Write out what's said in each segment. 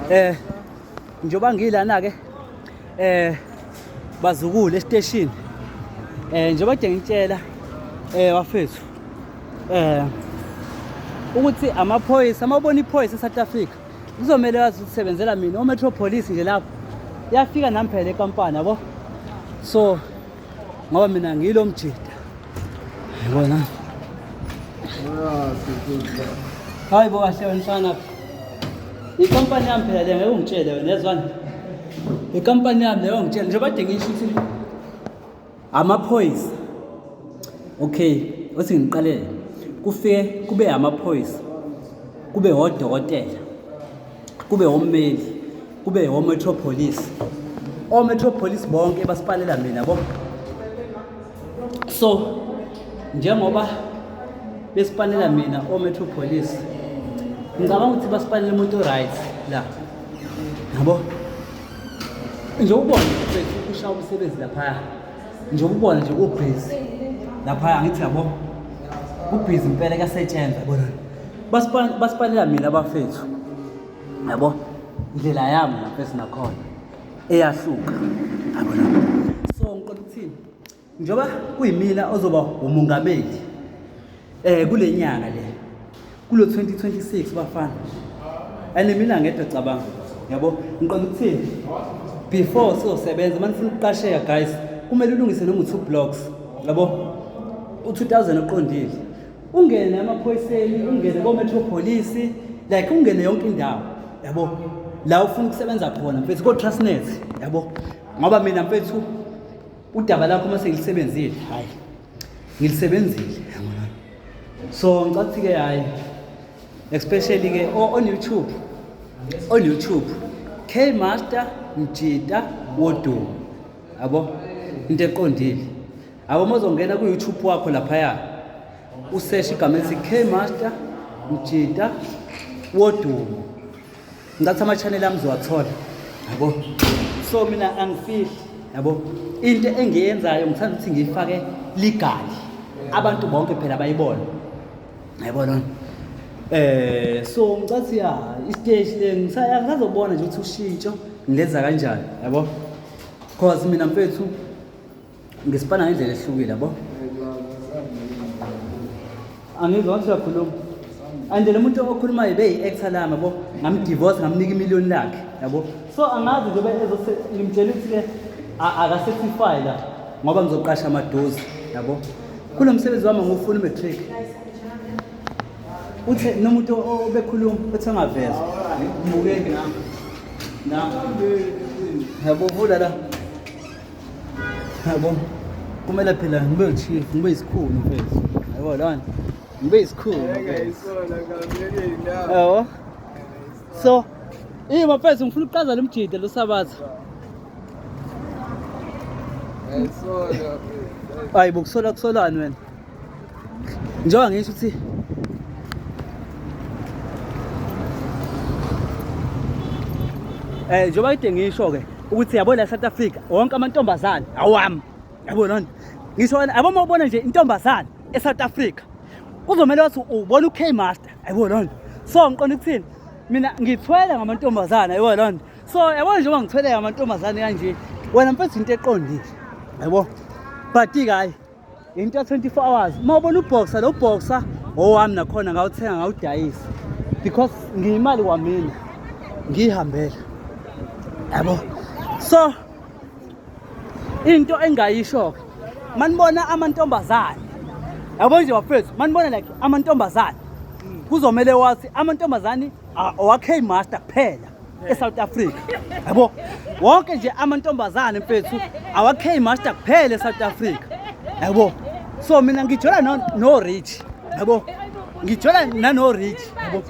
eh njoba ngilana ke eh bazukule estation eh njoba ke ngitshela eh wafethu eh ukuthi amaphoyisa amabona iphoyisa eSouth Africa kuzomele wazi ukusebenzela mina oMetro Police nje lapho yafika nami phela eKampani yabo so ngoba mina ngilo mjida yabona hayi bo kahle wensana ikampani yami phela le ngeke ungitshele wena yezwani ikampani yami leyo ngitshele njengoba de ngisho ukuthi amaphoyisa okay othi ngiqalele kufike kube amaphoyisa kube wodokotela kube ommeli kube ometropolis ometropolis bonke basipalela mina bo so njengoba besipalela mina ometropolis ngicabanga ukuthi basipalela umuntu right la yabo nje ubona usha umsebenzi laphaya nje ubona nje ubhizi laphaya ngithi yabo ubhizi impela kuyasetshenzwa bonani basipalela mina bafethu yabo indlela yami lapho esinakhona eyahluka yabo so ngiqola ukuthini njengoba kuyimina ozoba umongameli eh kule nyanga le kulo 2026 bafana and mina ngedwa cabanga yabo ngiqola ukuthini before sizosebenza uma nifuna ukuqasheka guys kumele ulungise noma u-two blocks yabo u-two thousand oqondile ungene emaphoyiseni ungene kometropolis like ungene yonke indawo yabo la ufuna ukusebenza khona mfethu kotrustnet yabo ngoba mina mfethu udaba lakho uma sengilisebenzile hayi ngilisebenzile so ngicela ukuthi-ke hhayi especially-ke on youtube on youtube k master mjita wodumo yabo into eqondile abo mozongena ku-youtube wakho laphaya useshe igama elithi k master mjita wodumo ngathi ama-chanel ami zowathola yabo so mina angifihli yabo into engiyenzayo ngithanda ukuthi ngiyifake ligali abantu bonke phela bayibona yayibona um eh, so ngicathi ya isiteshi le ngisazobona nje ukuthi ushintsho ngilenza kanjani yabo cause mina mfethu ngisipana ngendlela ehlukile yabo angizwa ukuthi uyakhuluma and lo muntu okhulumayo beyi-actor lami yabo ngamdivorce ngamnika imiliyoni lakhe yabo so angazi njengoba ezose ngimtshela ukuthi-ke akasefifayi la ngoba ngizoqasha amadozi yabo kulo msebenzi wami ngufuna umatric uthe nomuntu obekhuluma uthe angaveza ngibukeki nami nami yabo vula la yabo kumele phela ngibe uchief ngibe isikhulu mfethu yabo lona ngibe isikhulu yabo so Ih mafethu ngifuna ukuqaza lemjide lo sabatha. Hayi bokusola kusolani wena. njengoba ngisho ukuthi eh njengoba kide ngisho ke ukuthi yabo la South Africa wonke amantombazane awami yabo lona ngisho yabo mawubona nje intombazane eSouth Africa kuzomela ukuthi ubona uK Master yabo lona so ngiqonda ukuthini mina ngithwele ngamantombazane yabo lona so yabo njengoba ngithwele ngamantombazane kanje wena mfethu into eqondile yabo but ke hayi into ya 24 hours uma ubona uboxer lo boxer owami nakhona ngawuthenga ngawudayisa because ngiyimali kwamina ngiyihambela yabo so into engayisho ke manibona amantombazane yabo nje bafethu manibona like amantombazane kuzomele wathi amantombazane awakhe master kuphela eSouth Africa yabo wonke nje amantombazane mfethu awakhe master kuphela eSouth Africa yabo so mina ngijola no, no rich yabo ngijola nano rich yabo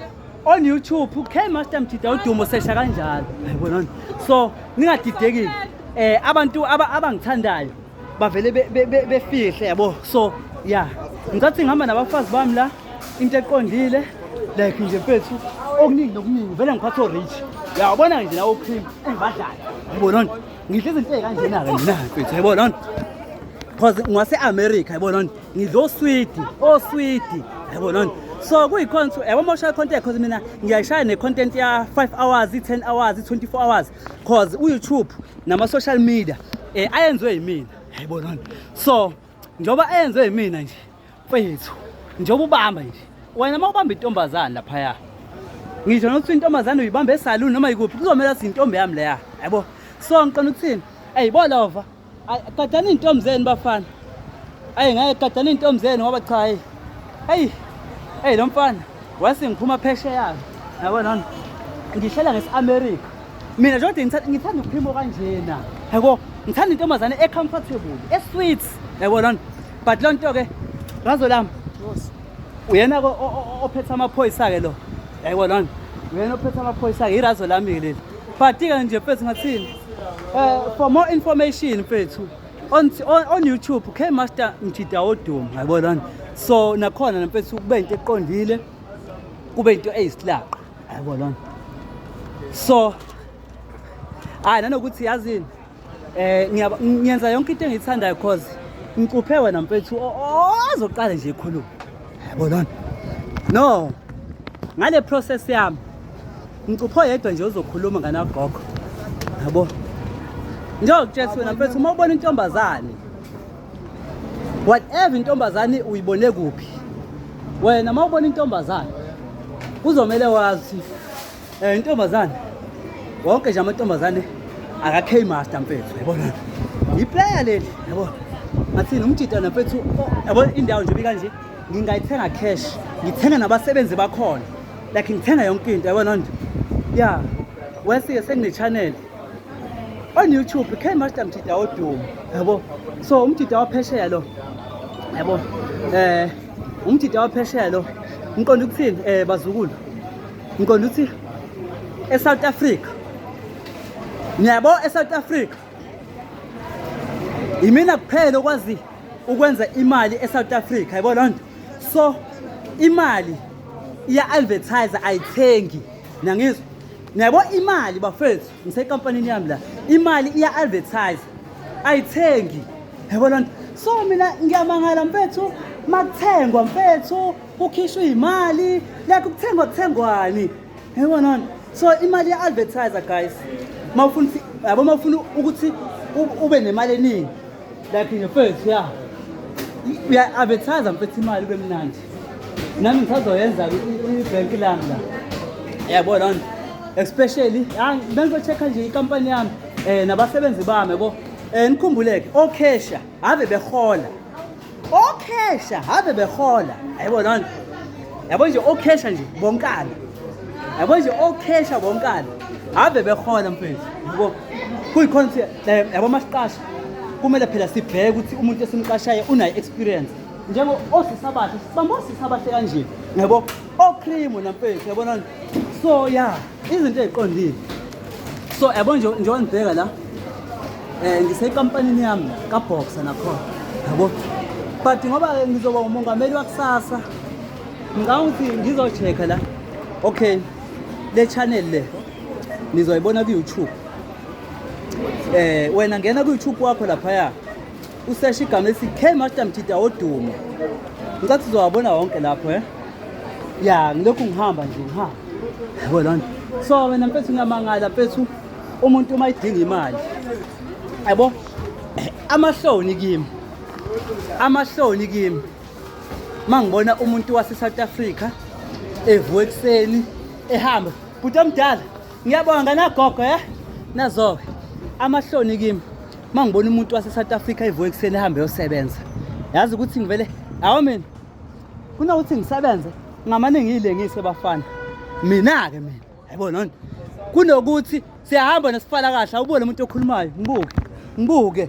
on YouTube uKay Master Mjida udumo sesha kanjalo yabona so ningadidekile eh abantu abangithandayo bavele befihle yabo so ya ngicathi ngihamba nabafazi bami la into eqondile like nje mfethu okuningi nokuningi vele ngiphatha o-rich ya ubona-ke nje lawo cream engibadlala yabo lona ngidla izinto ey'kanjena-ke mina mfethu yabo lona because ngwase-america yabo lona ngidla oswidi oswidi yabo lona so kuyikhona ukuthi yabo uma ushaya icontent because mina ngiyayishaya ne-content ya-five hours i-ten hours i-twenty-four hours cause uyoutube nama-social media um ayenziwe yimina yayibonani so njengoba ayenziwe yimina nje mfethu njengoba ubamba nje wena uma ubamba intombazane laphaya ngisho nokuthi intombazane uyibamba esaluni noma yikuphi kuzomele athi intombi yami leya yabo so ngiqona ukuthini eyi bolova Qedani iy'ntombi zenu bafana. Ayi ngeke qedani iy'ntombi zenu ngoba cha hayi. Eyi, eyi lo mfana wase ngiphuma phesheya-ke. Yabo nona, ngihlala ngesi-Amerika. Mina nje kodwa ngitha- ngithanda ukuphimo kanjena. Yabo, ngithanda intombazane e-comfortable, e-sweet. Yabo nona. But loo nto-ke, ngazo lami, uyena ke o- o- o- ophethe amaphoyisa-ke lo. Yabo nona. Uyena ophethe amaphoyisa-ke, irazo lami-ke leli. But-ke nje mfethu ngathini? Uh, for more information mfethu on, on, on YouTube K Master Mjida Odum yabona so nakhona namfethu kube into eqondile kube into eyisilaqa yabona so hayi nanokuthi yazini eh ngiyenza yonke into engiyithandayo cause ngicuphe wena mfethu ozoqala nje ikhuluma Yabona. No. Ngale process yami. Ngicupho yedwa nje uzokhuluma ngana gogo. Yabo. Ngiyokutshela wena mfethu uma ubona intombazane. Whatever intombazane uyibone kuphi? Wena uma ubona intombazane kuzomele wazi Eh intombazane. Wonke nje amantombazane aka K Master mfethu yabona. Yi player leli yabona. Ngathini umjitana mfethu oh, yabona indawo nje bikanje ngingayithenga cash ngithenga nabasebenzi bakhona like ngithenga yonke into yabona nje. Yeah. Wesike sengine channel on YouTube K Master Mjita odumo yabo so umjita waphesheya lo yabo eh umjita waphesheya lo ngiqonda ukuthini eh bazukulu ngiqonda ukuthi esouth africa niyabo esouth africa yimina kuphela okwazi ukwenza imali esouth africa yabo loo nto so imali iya-advertise ayithengi nangizwa niyabo imali bafethu ngisekampanini yami la imali iya-advertise ayithengi yabo loo nto so mina ngiyamangala mfethu makuthengwa mfethu kukhishwa iy'mali like kuthengwa kuthengwani yabonani so imali ya-advertiser guys ma ufuna yabo ma ufuna ukuthi ube nemali eningi like in your first ya uya-advertiser mfethu imali ube mnandi nami ngisazoyenza ibhenki lami la yabo loo nto especially bengizocheck-a nje ikampani yami um nabasebenzi bami yabo um nikhumbuleke okhesha ave behola okhesha habe behola hayibo lona yabo nje okhesha nje bonkana yabo nje okhesha bonkana habe behola mfethu yabo kuyikhona ukuthi yabo masiqasha kumele phela sibheke ukuthi umuntu esimqashayo unayo experience njengo osisa bahle sibamba osisa bahle kanje yabo Ocream wena mfethu yabona so ya izinto eziqondile so yabo nje nje wangibheka la eh ngisekampanini yami ka boxer nakhona yabo but ngoba ke ngizoba umongameli wakusasa ngicabanga ukuthi ngizochecka la okay le channel le nizoyibona ku-youtube eh wena ngena ku-youtube wakho laphaya useshe igama esithi k master mjida wodumo ngicathi uzowabona wonke lapho eh ya ngilokhu ngihamba nje ngihamba yabo loo nto so wena mfethu ngiyamangala mfethu umuntu uma idinga imali yabo amahloni kimi amahloni kimi uma ngibona umuntu wase-south africa evuka ekuseni ehamba bhuti omdala Ngiyabonga nagogo eh nazoke amahloni kimi mangibona umuntu wase South Africa evuka ekuseni ehambe yosebenza yazi ukuthi ngivele awu mina kunokuthi ngisebenze ngamane ngiyilengise bafana mina ke mina yabona kunokuthi siyahamba nesifala kahle awubone umuntu okhulumayo ngibuke ngibuke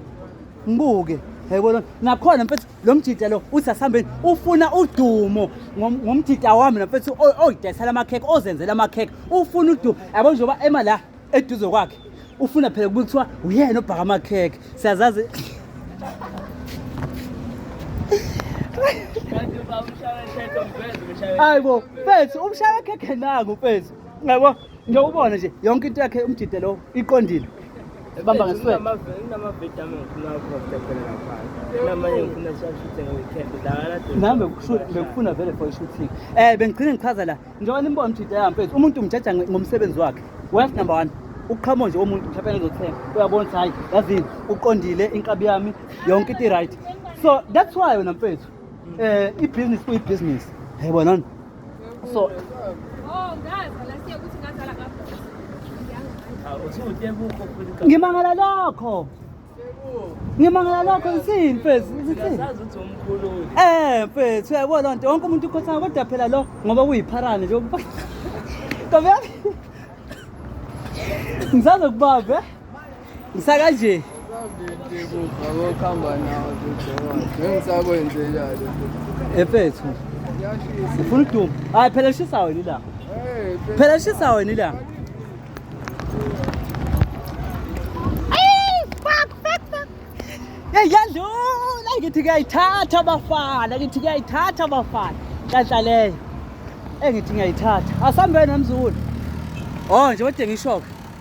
ngibuke yayibona nakhona mfethu lo mjita lo uthi asihambeni ufuna udumo ngomjita wami nafethu oyidayisela amakhekhe ozenzela amakhekhe ufuna udumo yabo njengoba ema la eduze kwakhe ufuna phela kubuye kuthiwa uyena obhaka amakhekhe siyazazi hayi bo fethu umshaya khekhe nangu fethu ngiyabo Nje ubone nje yonke into yakhe umjide lo iqondile. Ebamba ngesweat. Nami bekufuna vele for shooting. Eh bengigcina ngichaza la. Njengoba nimbona umjide yami mfethu umuntu umjaja ngomsebenzi wakhe. Wife number 1 ukuqhamo nje womuntu mhlawumbe ngizothenga uyabona ukuthi hayi yazini uqondile inkabi yami yonke into i-right so that's why wena mfethu um eh, ibhizinisi kuyibhizinisi yayibonani so oh, ngimangala lokho ngimangala lokho ngisini mfethu ngisini eh mfethu yabo loo nto wonke umuntu ukhothana kodwa phela lo ngoba kuyipharane nje ntombi yami ngisaze kubambe Ngisaka nje. Efethu. Ufuna ukuduma. Hayi phela lishisa wena ila. Phela lishisa wena ila. Hey yadlula ngithi kuyayithatha abafana ngithi kuyayithatha abafana kanhla leyo engithi ngiyayithatha asambe namzulu oh nje kodwa ngishoke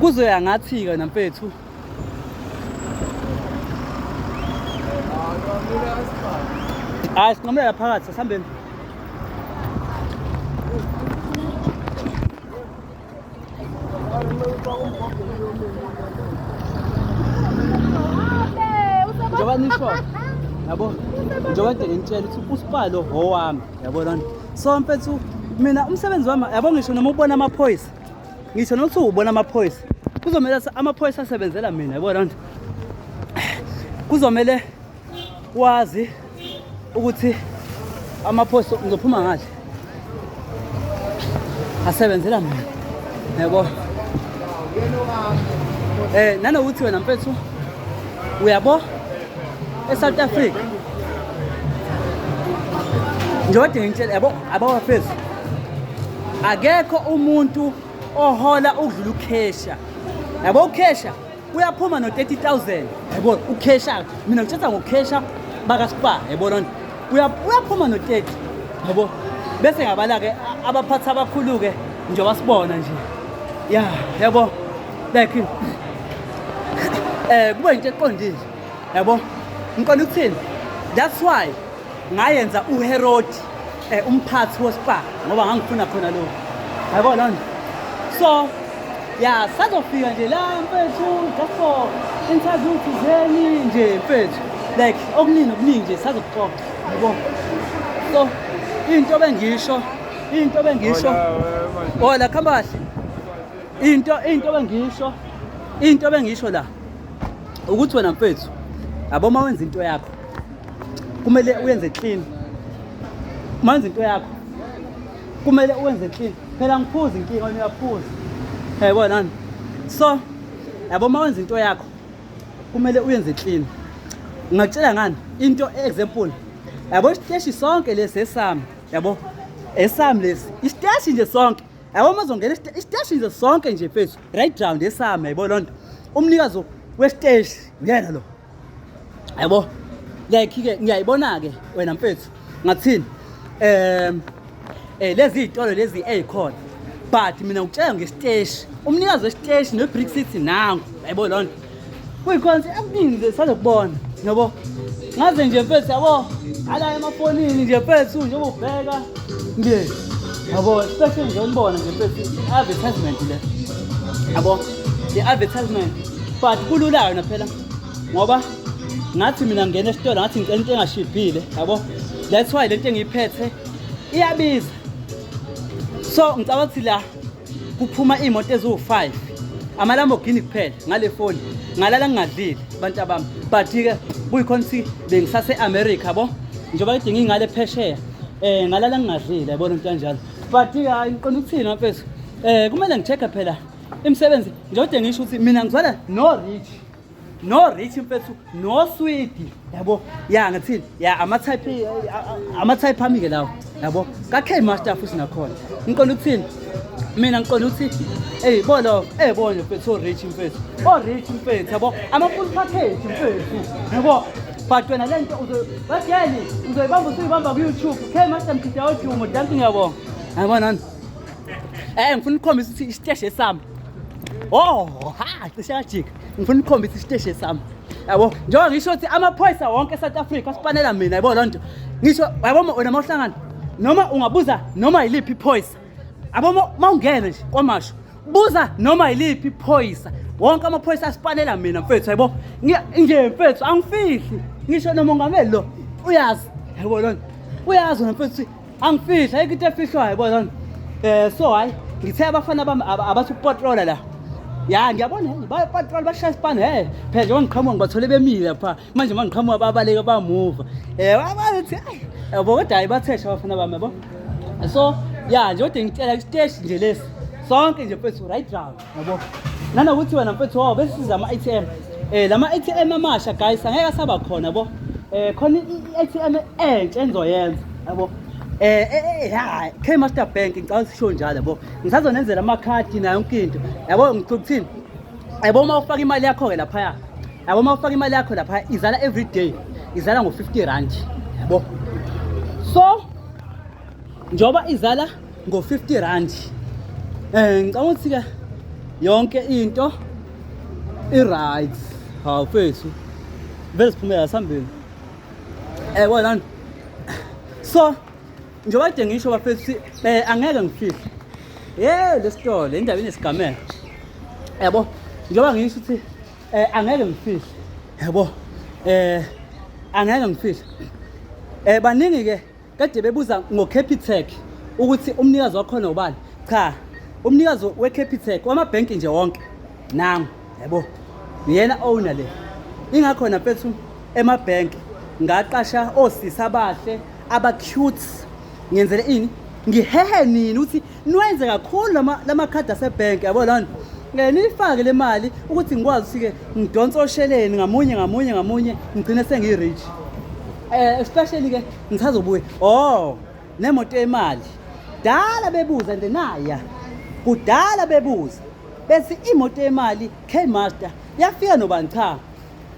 kuzoya ngathi-ke namfethu hayi sinqamulela phakathi sasihambeni njengoba nisho yabo njengoba nje ngintshela ukuthi usipalo howami yabo lona so mfethu mina umsebenzi wami yabo ngisho noma ubona amaphoyisa ngisho nokuthi ubona amaphoyisa kuzomele amaphoyisa asebenzela mina yabo loo nto kuzomele wazi ukuthi amaphoyisa ngizophuma ngathi asebenzela mina yabo eh nanokuthi wena mfethu uyabo eSouth Africa njengoba ngitshela yabo abawafezi akekho umuntu ohola ukudlula ukhesha yabo ukhesha uyaphuma no-30000 yabo ukhesha mina ngithetha ngokhesha bakaspa yabo lona uyaphuma no-30 yabo bese ngabala-ke abaphathi abakhulu-ke nje wasibona nje ya yabo like um eh, kuba yinto eqondile yabo ngiqonda ukuthini that's why ngayenza uherodi um umphathi wospa ngoba ngangifuna khona lokho yabo loo nto so ya sazofika nje la mfethu just for interview thizeni nje mfethu like okuningi okuningi nje sazokuxoxa yabo so into bengisho into bengisho ola khambahle into into bengisho into bengisho la ukuthi wena mfethu yabo uma wenza into yakho kumele uyenze clean manzi into yakho kumele uwenze clean phela ngiphuza inkinga wena uyaphuza yayibona nani so yabo uma wenza into yakho kumele uyenze clean ngingakutshela ngani into example yabo isiteshi sonke lesi esami yabo esami lesi isiteshi nje sonke yabo uma zongena isiteshi nje sonke nje mfethu right round esami yayibona loo nto umnikazi wesiteshi uyena lo yabo like-ke ngiyayibona-ke wena mfethu ngathini um eh lezi zitolo lezi ezikhona but mina ngikutshela ngesiteshi umnikazi wesiteshi nebrick city nangu yaybo loo nto kuyikhona ukuthi akuningi nje sazokubona yabo ngaze nje mfethu yabo ala emafonini nje mfethu njengoba ubheka nje yabo especially nje umbona nje mfethu i-advertisement le yabo i-advertisement but kulula yona phela ngoba ngathi mina ngena esitolo ngathi ngicela into engashibhile yabo that's why lento engiyiphethe iyabiza so ngicabanga ukuthi la kuphuma iy'moto eziwu-five amalamborghini kuphela ngale foni ngalala ngingadlile abantu abami but-ke kuyikhona ukuthi bengisase-america bo njengoba kudinga ingale phesheya um ngalala ngingadlile yabona into kanjalo but-ke hayi ngiqonda ukuthini mafethu um kumele ngi-check-e phela Imsebenzi njode ngisho ukuthi mina ngizwana no rich. No rich mfethu, no sweet. Yabo? Ya ngathini? Ya ama type ama type ami ke lawo. Yabo? Ka K master futhi nakhona. Ngiqonda ukuthini? Mina ngiqonda ukuthi Ey bolo, eh bolo mfethu so rich mfethu. O rich mfethu yabo? Ama full package mfethu. Yabo? But wena lento uzo batheni uzoyibamba usuyibamba ku YouTube. K master mkhitha odumo, danki ngiyabonga. Yabona nani? Eh ngifuna ukukhombisa ukuthi isiteshi esami. Oh, ha, cishe yajika. Ngifuna ukukhombisa isiteshi esami. Yabo, njengoba ngisho ukuthi amaphoyisa wonke eSouth Africa asipanela mina, yabo loo nto. Ngisho yabo wena mawuhlangana noma ungabuza noma yiliphi iphoyisa. Yabo mawungene nje kwamasho. Buza noma yiliphi iphoyisa. Wonke amaphoyisa asipanela mina mfethu, yabo. Nje mfethu angifihli. Ngisho nomongameli lo uyazi. Yabo loo nto. Uyazi mfethu angifihla ayikho into efihlwayo bozani um so hhayi ngithe abafana bami abathi ukupatrola la ya ngiyabona he bapatrola bashaya isipani he phela njengoba ngiqhamuka ngibathole bemile lapha manje uma ngiqhamuka babaleke bamuva um abathi ayi yabo kodwa hhayi bathesha abafana bami yabo so ya nje kodwa ngicela isiteshi nje lesi sonke nje mfethu right round yabo nanokuthi wena mfethu wawo besisiza ama-atm um la ma-atm amasha guys angeke asaba khona bo um khona i-atm entsha engizoyenza yabo um eh, eh, ya k master bank ngicaba sisho njalo yabo ngisazonenzela amakhadi nayo yonke into yabo ngicula ukuthini yabo uma ufaka imali yakho-ke laphaya yabo uma ufaka imali yakho laphaya izala every day izala ngo-fifty rand yabo so njengoba izala ngo-50 rand um ngicabanga ukuthi-ke yonke into i-right hawu fethu vele siphumela sihambile um eh, kwalani so njengoba kade ngisho bafethu ukuthi um angeke ngifihle ye lesitolo indaba inesigamela yabo njengoba ngisho ukuthi um angeke ngifihle yabo um angeke ngifihle um baningi-ke Kade bebuza ngoCapitec ukuthi umnikazi wakhona ubani? Cha, umnikazi weCapitec wamabhenki nje wonke nangu, yabo. Uyena owner le. Ingakhona mfethu emabhenki ngaqasha osisi abahle aba cute ngenzele ini ngihehe nini ukuthi Nwenze kakhulu lama lama card ase bank yabo lana. Ngeke nifake le mali ukuthi ngikwazi sike ngidonsa osheleni ngamunye ngamunye ngamunye ngigcine sengi rich. Eh especially ke ngisazobuya. Oh, nemoto yemali. Dala bebuza nje naya. Kudala bebuza. Bese imoto yemali K-Master yafika nobani cha.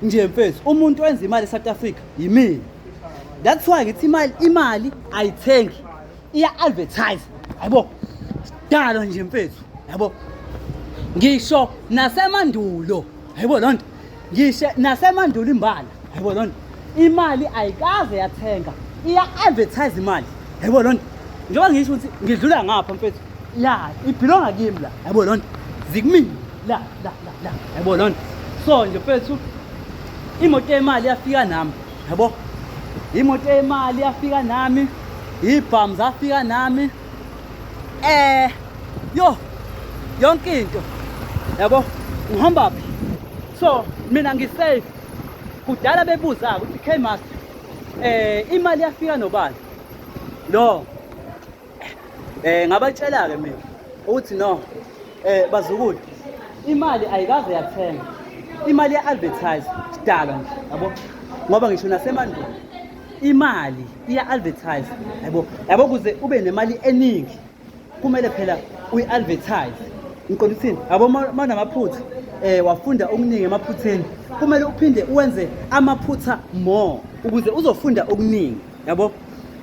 Nje mfethu umuntu wenza imali eSouth Africa yimina. That's why ngithi imali imali ayithengi. iya-advertise yabo sidalo nje mfethu yabo ngisho nasemandulo yabo loo nto ngisho nasemandulo imbala yabo loo nto imali ayikaze yathenga iya-advertise imali yabo loo nto njengoba ngisho ukuthi ngidlula ngapha mfethu ya ibhilonga kimi la yabo loo nto zikumini la la la la yabo loo nto so nje mfethu imoto yemali yafika nami yabo imoto yemali yafika nami ibhamu zafika nami eh yo yonke into yabo ngihamba phi so mina ngisafe kudala bebuza ukuthi K master eh imali yafika nobani no eh ngabatshela ke mina ukuthi no eh bazukulu imali ayikaze yathenga imali ya-advertise sidalwa nje yabo ngoba ngisho nasemandulo imali iya-advertise yabo yabo kuze ube nemali eningi kumele phela uyi-advertise ngiqonda ukuthini yabo uma unamaphutha um eh, wafunda okuningi emaphutheni kumele uphinde uwenze amaphutha more ukuze uzofunda okuningi yabo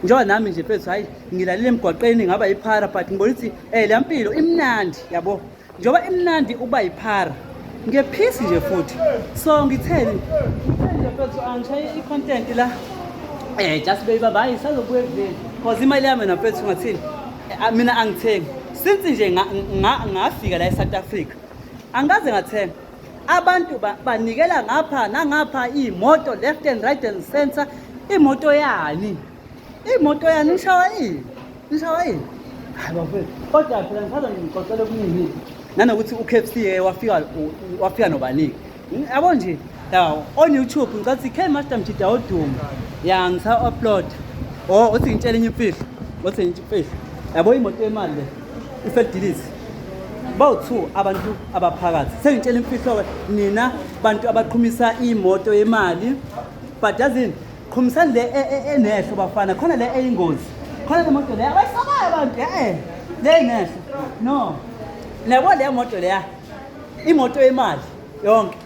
njengoba nami nje mfethu hhayi ngilalile emgwaqeni ngaba yiphara but ngibona ukuthi um eh, le mpilo imnandi yabo njengoba imnandi ukuba yiphara ngiyephisi nje futhi so ngitheni nje mfethu angishaye i-content la um just beyiba bayi sazobuya ekudleni cause imali yami na mfethu ngathini eh, mina angithengi since nje ngafika la e-south africa angikaze ngathenga Abantu banikela ba ngapha nangapha imoto left and right and center imoto yani imoto yani nishawa yini nishawa yini hayi bafethu kodwa phela ngisaza ngixoxela okuningi nanokuthi uKFC wafika wafika nobaningi yabo nje ya on YouTube ngicela ukuthi K Master Mjida odumo ya ngisa upload oh uthi ngitshela enye imfihlo uthi ngitshela imfihlo yabo imoto yemali le iselidilizi bawu-two abantu abaphakathi sengitshela imfihlo-ke nina bantu abaqhumisa imoto yemali but yazini qhumisani le e, e, enehlo bafana khona le eyingozi khona le moto leya abayisabayo abantu e-e le inehlo no nabo leya moto leya imoto yemali yonke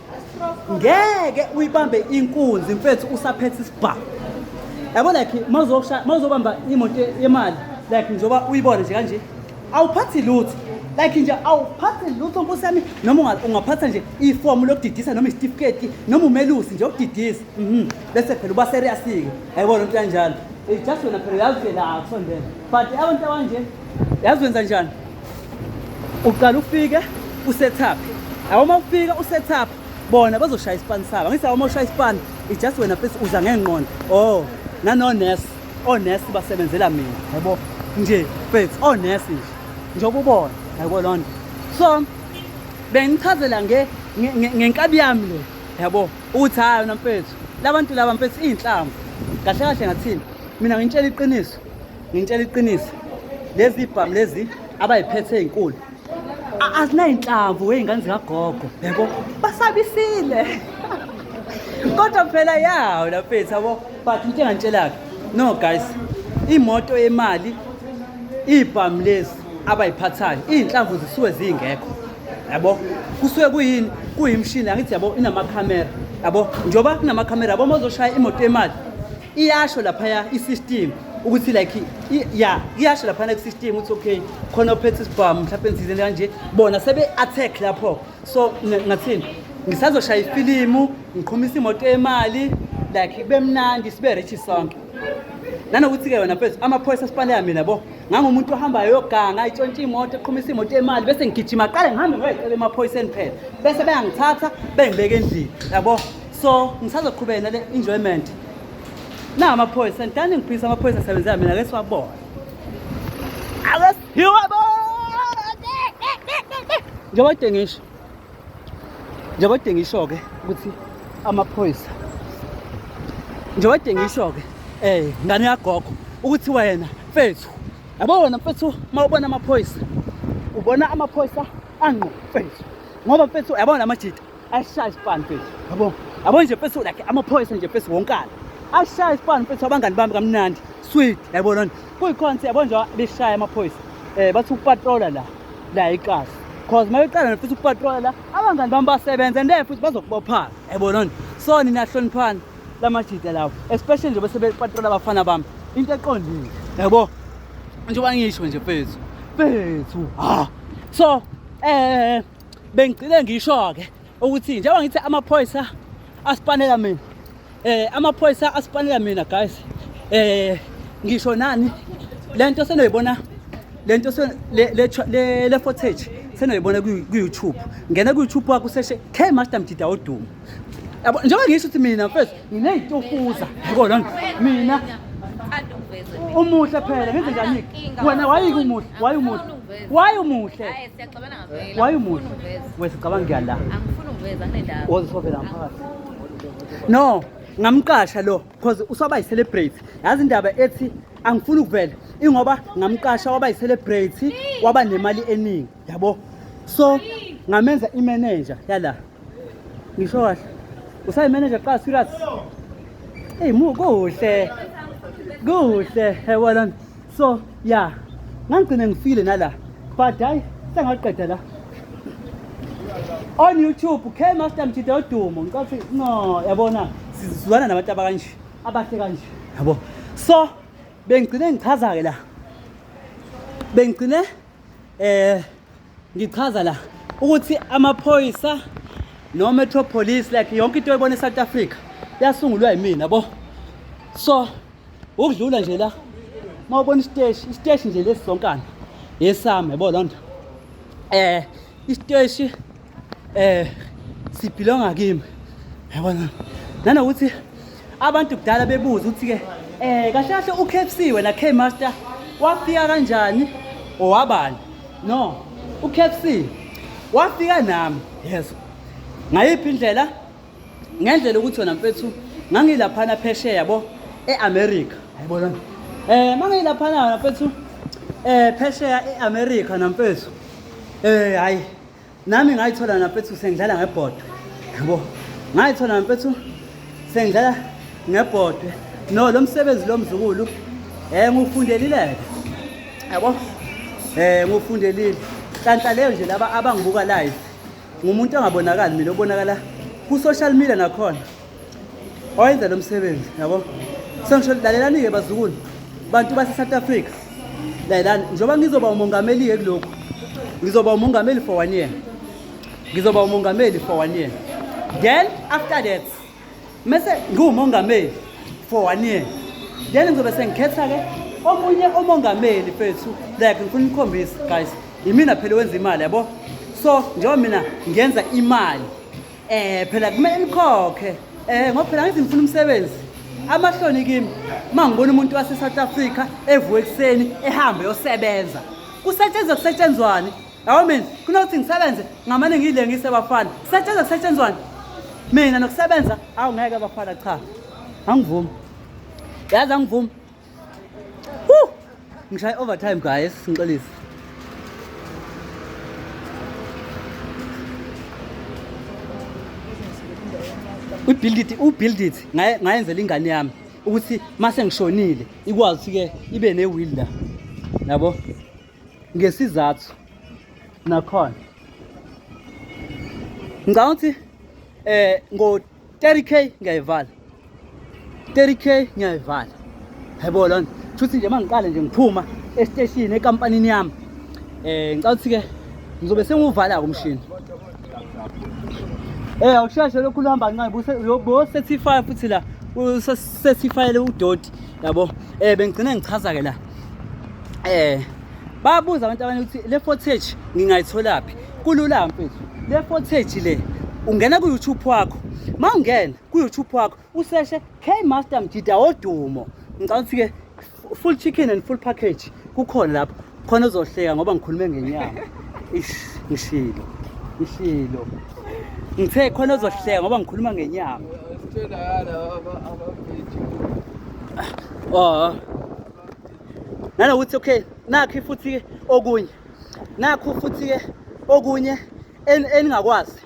ngeke uyibambe inkunzi mfethu usaphethe isibhamu yabo like mawuzobamba imoto yemali like njengoba uyibone nje kanje awuphathi lutho like nje awuphathi lutho nkosi yami noma ungaphatha nje ifomu lokudidisa noma isitifiketi noma umelusi nje okudidisa mhm. bese phela uba serious-ke ayibona into yanjalo just wena phela uyazi phela akusondela but abantu abanje yazi wenza njani uqala ufike usethaphi awu uma ufika usethaphi bona bazoshaya isipani sabo ngithi awu uma ushaya isipani ijust wena fesi uza ngengqondo o oh, nanonesi onesi oh, basebenzela mina yabo nje fesi onesi oh, nje njengoba ubona yabo loo nto so bengichazela ngenkabi yami le yabo ukuthi hhayi yona mfethu labantu laba mfethu iy'nhlamvu kahle kahle ngathini mina ngintshela iqiniso Ngintshela iqiniso lezi bhamu lezi abayiphethe ezinkulu azinayinhlamvu wey'ngane zikagogo yabo basabisile kodwa phela yawo laphethu yabo but into engantshela-ke no guys imoto yemali iy'bhamu lezi abayiphathayo iy'nhlamvu zisuke zingekho yabo kusuke kuyini kuyimshini angithi yabo inamakhamera yabo njengoba kunamakhamera yabo uma uzoshaya imoto yemali iyasho laphaya i-system ukuthi like ya iyasho laphana ku-system ukuthi okay khona ophethe isibhamu mhlawumpe nizizeni kanje bona sebe-attack lapho so ngathini ngisazoshaya ifilimu ngiqhumisa imoto yemali like kube mnandi sibe richi sonke nanokuthi-ke wena mfethu amaphoyisa asipaleya mina bo ngangumuntu ohambayo yoganga itshontshe imoto eqhumisa imoto yemali bese ngigijima qale ngihambe ngoyicela emaphoyiseni phela bese beyangithatha bengibeke endlini yabo so ngisazoqhubeka nale enjoyment na amaphoyisa ngithanda ngiphisa amaphoyisa asebenzela mina ke siwabona njengoba kade ngisho njengoba kade ngisho-ke ukuthi amaphoyisa njengoba kade ngisho-ke um ngane yagogo ukuthi wena mfethu yabo wena mfethu uma ubona amaphoyisa ubona amaphoyisa angqo mfethu ngoba mfethu yabona amajita ashaya isipani mfethu yabo yabo nje mfethu like amaphoyisa nje mfethu wonkana ashaya isipani mfethu abangani bami kamnandi sweet yabo lona kuyikhonse yabo nje beshaya amaphoyisa eh bathi ukupatrola la la iqasa cause mayeqala mfethu ukupatrola la abangani bami basebenza and futhi bazokubophana yabo lona so nina hloniphani lamajita lawo especially nje bese bepatrola abafana bami into eqondile yabo njengoba ngisho nje mfethu mfethu ha so eh bengigcine ngisho-ke ukuthi njengoba ngithi amaphoyisa asipanela mina eh amaphoyisa asipanela mina guys eh ngisho nani lento senoyibona lento le le footage senoyibona ku YouTube ngena ku YouTube wakho seshe K Master Mdida odumo yabo njengoba ngisho ukuthi mina mfethu nginey'tufuza yabo lona mina umuhle phela ngenze njani wena wayike umuhle waye umuhle waye umuhle waye umuhle wesicabanga kuya la ozisovela ngaphakathi no ngamqasha lo because usaba yi-celebrate yazi indaba ethi angifuni ukuvela ingoba ngamqasha waba yi-celebrate waba nemali eningi yabo so ngamenza imanager yala ngisho kahle usayimanager qala serious eyi mu kuhle kuhle yabona so ya ngangigcine ngifile nala but hayi sengaqeda la on youtube k master mjida odumo ngicela ukuthi no yabona sizwana nabantu abakanje abahle kanje yabo so bengigcine ngichaza-ke la bengigcine eh ngichaza la ukuthi amaphoyisa no metro police like yonke into oyibona eSouth Africa yasungulwa yimina bo so ukudlula nje la mawubona isiteshi isiteshi nje lesizonkana yesami yabo lonto eh isiteshi eh sibhilonga kimi yabona nanokuthi abantu kudala bebuza ukuthi ke eh kahle kahle uKFC wena K Master wafika kanjani owabani no uKFC wafika nami yeso ngayiphi indlela ngendlela ukuthi wena mfethu ngangilaphana phesheya yabo eAmerica ayibona eh mangilaphana mfethu eh phesheya eAmerica namfethu eh hayi nami ngayithola nafethu sengidlala ngebhodwe yabo ngayithola nafethu sengidlala ngebhodwe no lo msebenzi lo mzukulu um ngufundelileke yabo um ngufundelile kanhla leyo nje laba abangibuka live ngumuntu ongabonakali mina obonakala ku-social media nakhona owenza lo msebenzi yabo sengisho lalelani-ke bazukulu bantu base-south africa lalelani njengoba ngizoba umongameli-ke kulokhu ngizoba umongameli for one year ngizoba umongameli for one year then after that mese ngiwumongameli for one year then ngizobe sengikhetha-ke omunye umongameli fethu like ngifuna ukukhombisa guys yimina phela wenza imali yabo so njengoba mina ngenza imali Eh phela kumele nikhokhe. Eh ngoba phela ngithi ngifuna umsebenzi. Amahloni kimi uma ngibona umuntu wase South Africa evuka ekuseni ehambe yosebenza. Kusetshenzwa kusetshenzwani? Yabo mina kunokuthi ngisebenze ngamane ngile ngisebafana. Kusetshenzwa kusetshenzwani? Mina nokusebenza awu ngeke abafana cha. Angivumi. Yazi angivumi. Woo! Ngishaya overtime guys, ngixolise. Ubuild it, ubuild it. Ngaye ngayenzela ingane yami ukuthi mase ngishonile ikwazi ke ibe ne will la. Yabo? Ngesizathu nakhona. Ngicabanga ukuthi eh ngo 30k ngiyayivala 30k ngiyayivala yebo lona futhi nje mangiqale nje ngiphuma esiteshini ekampanini yami eh ngicela ukuthi ke ngizobe sengiwuvala umshini eh awusheshe lokhu luhamba kancane buse yobo 35 futhi la usesifayele udoti yabo eh bengigcine ngichaza ke la eh babuza abantu abanye ukuthi le footage ngingayitholaphi kulula mfethu le footage le ungena ku-youtube wakho ma ungena ku-youtube wakho useshe k master mjida wodumo ngicabanga ukuthi-ke full chicken and full package kukhona lapho khona uzohleka ngoba ngikhulume ngenyama ish ngishilo ngishilo ngithe khona uzohleka ngoba ngikhuluma ngenyama oh nanokuthi okay nakhi futhi okunye nakho futhi-ke okunye eningakwazi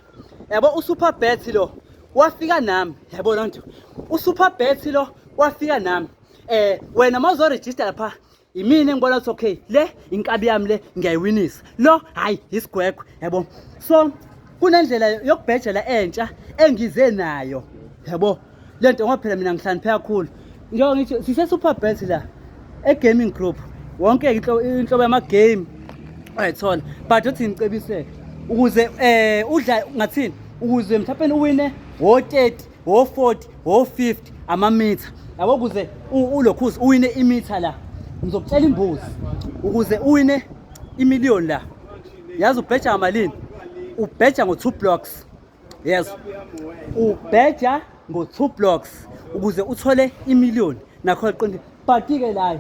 yabo usuperbet lo wafika nami yabo loo nto usuperbet lo wafika nami eh wena uma uzorejista lapha yimina engibona ukuthi okay le inkabi yami le ngiyayiwinisa lo hhayi yisigwegwe yabo so kunendlela yokubhejela entsha engize nayo yabo le nto ngoba phela mina ngihlakaniphe kakhulu njengoba ngithi sise-super bet la e-gaming group wonke inhlobo yama-game ayithola but othi ngicebiseke ukuze um udla ngathini ukuze mhlawumpeni uwine wo-thirty wo-forty wo-fifty amamitha yabo ukuze ulokhuzi uwine imitha la ngizokutshela imbuzi ukuze uwine imiliyoni la yazi ubheja ngamalini ubheja ngo-two blocks yes ubheja ngo-two blocks ukuze uthole imiliyoni nakho qinti but-ke layo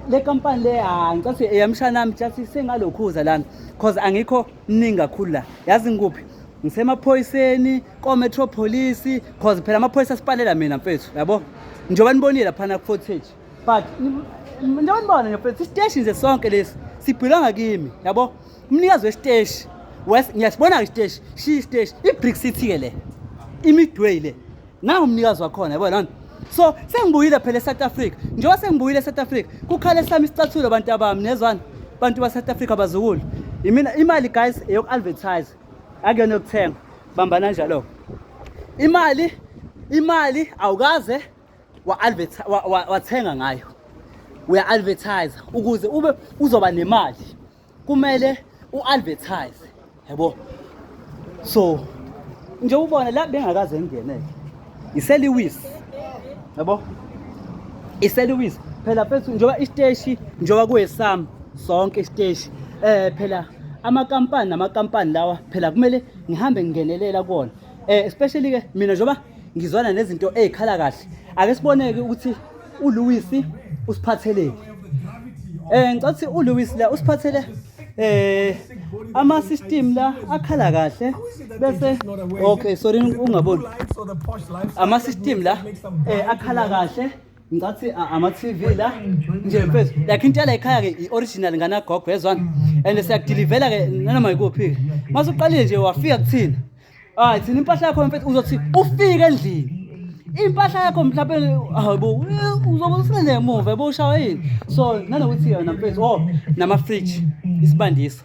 le kampani le hayi ngicela ukuthi eyamshana ami just sengalokhuza lana because angikho mningi kakhulu la yazi ngikuphi ngisemaphoyiseni kometro police because phela amaphoyisa asipanela mina mfethu yabo njengoba nibonile laphana ku-footage but njengoba nibona nje futhi isiteshi nje sonke lesi sibhilanga kimi yabo umnikazi wesiteshi ngiyasibona-ke isiteshi shiya isiteshi i-brick city-ke le imidway le nangu umnikazi wakhona yabo lona so sengibuyile phela e-south africa njengoba sengibuyile e-south africa kukhale sami isicathulo abantu abami nezwani abantu ba-south africa bazukulu imina imali guys eyoku-advertise akuyona yokuthenga bambana njalo-ko imali imali awukaze wathenga ngayo uya-advertise ukuze ube uzoba nemali kumele u-advertise yabo so nje ubona la bengakaze ngingeneke iseliwisi yabo iseliwisi phela mfethu njengoba isiteshi njengoba kuwesami sonke isiteshi eh phela amakampani namakampani lawa phela kumele ngihambe ngingenelela kuwona eh especially ke mina njengoba ngizwana nezinto ezikhala kahle ake siboneke ukuthi uLewis usiphatheleni eh ngicela ukuthi uLewis la usiphathele eh ama system la akhala kahle bese okay sorry ungaboni ama system la eh akhala kahle ngicathi ama TV la nje mfethu like into la ekhaya ke i original ngana gogo yezwana and siyakudelivela ke nanoma ikuphi mase uqalile nje wafika kuthina hayi thina impahla yakho mfethu uzothi ufike endlini impahla yakho mhlawumbe hayibo uzobe usilele emuva yabo ushawa yini so nanokuthi yona mfethu o oh, nama-fridge isibandisi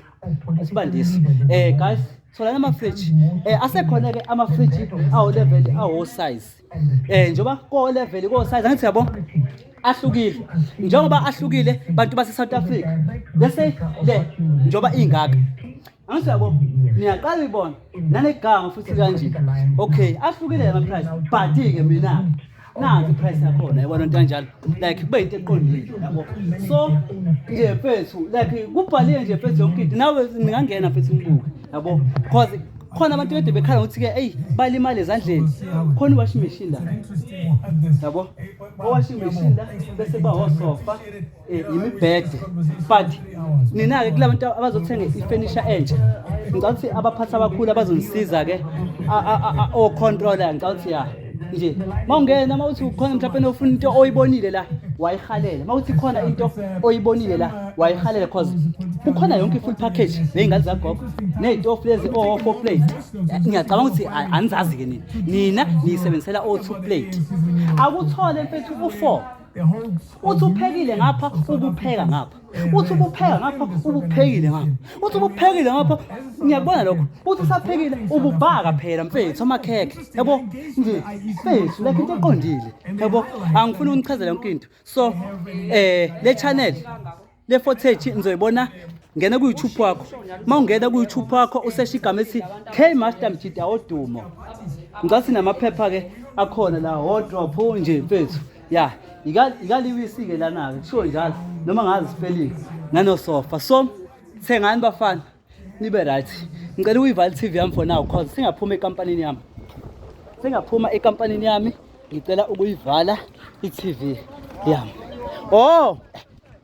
isibandisi um guys tholani ama-fridge um asekhona-ke ama-fridge awo-level awo-size um njengoba ko-level ko-size angithi yabo ahlukile njengoba ahlukile bantu base-south africa bese le njengoba ingaka angisiyabo niyaqala ibona nanegama futhi kanje okay ahlukile yama price but ke mina nanti price yakhona yabona into kanjalo like kube into eqondile yabo so nje mfethu like kubhaliwe nje mfethu yonke into nawe ningangena mfethu ngibuke yabo because khona abantu kade bekhala ukuthi ke eyi balimale ezandleni khona iwashing machine la yabo owashing machine la bese bawosofa Eh, yimibhede but nina-ke kula bantu abazothenga ifenisha entsha ngicabanga ukuthi abaphathi abakhulu abazongisiza-ke ocontrola ngicabanga ukuthi ya nje ma ungena ma uthi ukhona mhlawumpe nofuna into oyibonile la wayihalela ma uthi khona into oyibonile la wayihalela cause kukhona yonke i-full package ney'ngane zagogo ney'tofu lezi o-four plate ngiyacabanga ukuthi anizazi-ke nina nina niyisebenzisela o-two plate akuthole mfethu u-four uthi uphekile ngapha ubupheka ngapha uthi ubupheka ngapha ubuphekile ngapha uthi ubuphekile ngapha ngiyakubona lokho uthi usaphekile ububhaka phela mfethu amakhekhe yabo nje mfethu lekho into eqondile yabo angifuni unichazele yonke into so um le channel le footage nizoyibona ngena ku-youtube wakho uma ungena ku-youtube wakho usesha igama ethi k master mjida odumo ngicela sinamaphepha-ke akhona la wodrop nje mfethu ya ikaliwisi-ke lana-ke kushiwo njalo noma ngazi sipelingi nanosofa so thengani bafana nibe right ngicela uyivale i-tv yami for now cause singaphuma ekampanini yami singaphuma ekampanini yami ngicela ukuyivala i-tv yami oh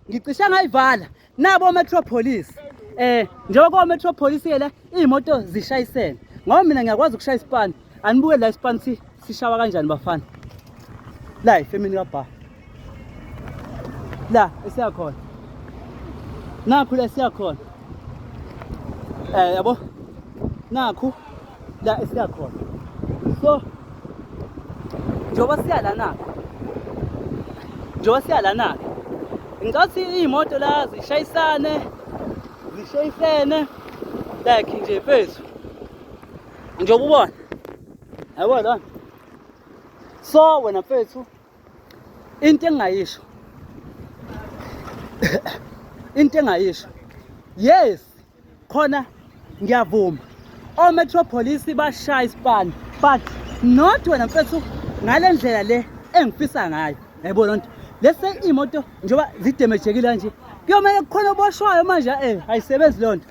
ngicisha ngayivala nabo ometropolis um eh, njengoba kometropolis-ke la iy'moto zishayisene ngoba mina ngiyakwazi ukushaya isipani Anibuke la ispan si sishawa kanjani bafana. La ifemini ka bar. La esiya khona. Nakhu la esiya khona. Eh yabo. Nakhu la esiya khona. So njengoba siya la nakho. Njengoba siya la nakho. Ngathi imoto la zishayisane zishayisene like nje phezulu njengoba ubona yabo lona so wena mfethu into engingayisho into engingayisho yes khona ngiyavuma ometropolis bashaya isipani but not wena mfethu ngale ndlela le engifisa ngayo yayibona loo nto lese iy'moto njengoba zidemejekile kanje kuyomele kukhona oboshwayo manje um ayisebenzi loo nto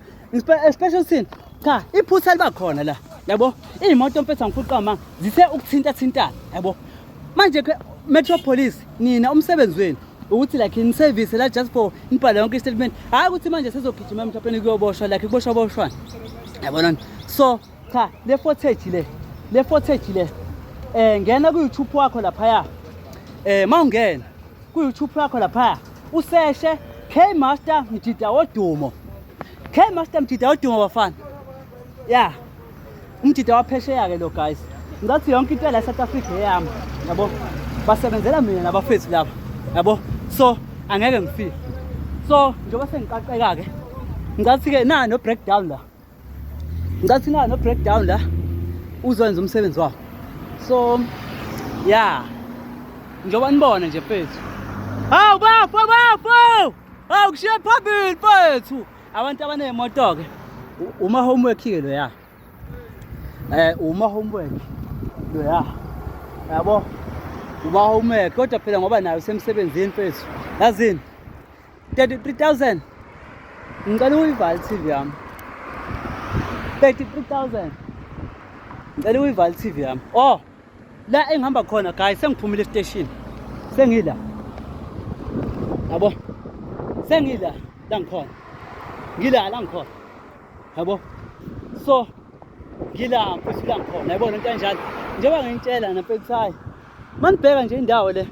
Special sin. Cha, iphutha liba khona la. Yabo? Imoto mfethu angiphuqa manga. Zithe ukuthinta thintana. Yabo? Manje ke Metro Police nina umsebenzi wenu ukuthi like in service la just for nibhala yonke istatement hayi ukuthi manje sizogijima emthapheni kuyoboshwa like kuboshwa boshwana yabona so cha le footage le le footage le eh ngena ku YouTube wakho lapha ya eh mawungena Ku-YouTube yakho laphaya useshe K Master Mjida wodumo. K Master Mjida wodumo bafana. Yeah. Umjida waphesheya ke lo guys. Ngathi yonke into la South Africa eyami. Yabo. Basebenzela mina nabafethu laba. Yabo. So angeke ngifike. So njengoba sengiqaqeka ke ngathi ke na no breakdown la. ngicela thina no breakdown la uzokwenza umsebenzi wawo so ya njengoba nibona nje mfethu hawu bafo bafo hawu kushiye phambili mfethu abantu abaney'moto-ke uma homework-ke loya um eh, uma homework loya yabo uma homework kodwa phela ngoba nayo usemsebenzini mfethu yazini 33000 ngicela uyivala TV yami 33000 ngicela uyivala TV yami oh la engihamba khona guys sengiphumile station sengila yabo sengila la ngikhona ngila la ngikhona yabo so ngila mfethu la ngikhona yabona into enjalo njengoba ngintshela nampethu hayi manibheka nje indawo le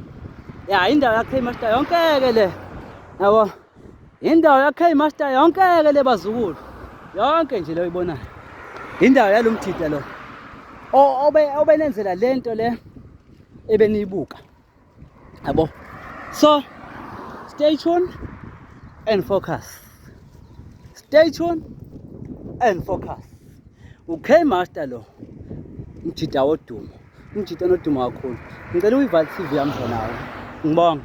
ya indawo yakhe master yonkeke le yabo indawo yakhe master yonkeke le bazukulu yonke nje leyo ibonayo indawo yalomthida lo obe obenenzela lento le ebeniyibuka yabo so stay tuned and focus stay tuned and focus ukhe master lo mthida wodumo Umjita onodumo kakhulu. Ngicela uyival TV yami for now. Ngibonge.